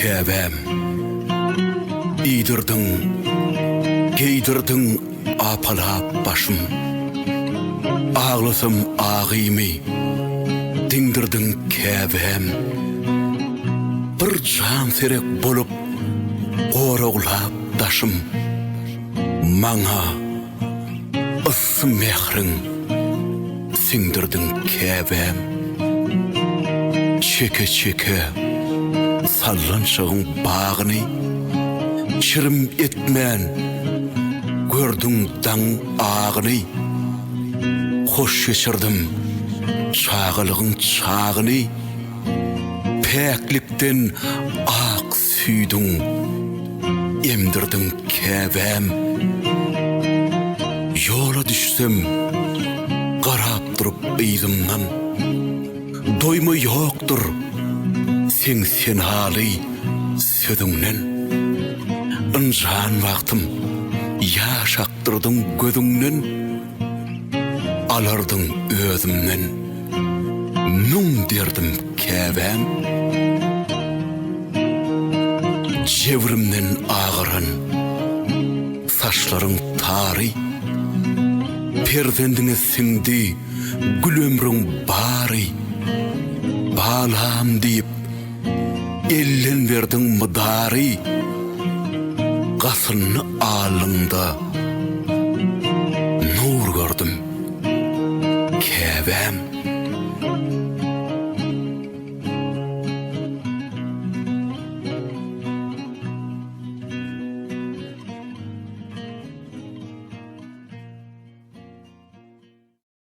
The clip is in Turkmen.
Käbäm, iýdirdiň, geýdirdiň apalap başym. Aglasam agymy, diňdirdiň Käbäm. Bir jan serek bolup, goraglap daşym. Maňa. Yssy mähriň siňdirdiň käbäm Çeke-çeke sallançagyň bagyny Çirim etmän gördüň daň agyny Hoş geçirdim çagalygyň çagyny Päklikden ak Süýdüň, emdirdiň Käbäm. Ýola düşsem, garap durup yzymdan. Doýma ýokdur seň senaly sözüňden. Ynjan wagtym, ýaş akdyrdyň gözüňden. Alardyň özümden müň derdim käbäm Jebrimden agaran saçlaryň tary Perzendiňe siňdi gül ömrüň bary Balam diýip Elden berdiň mydary, Gasynly alnyňda nur gördüm, Käbäm.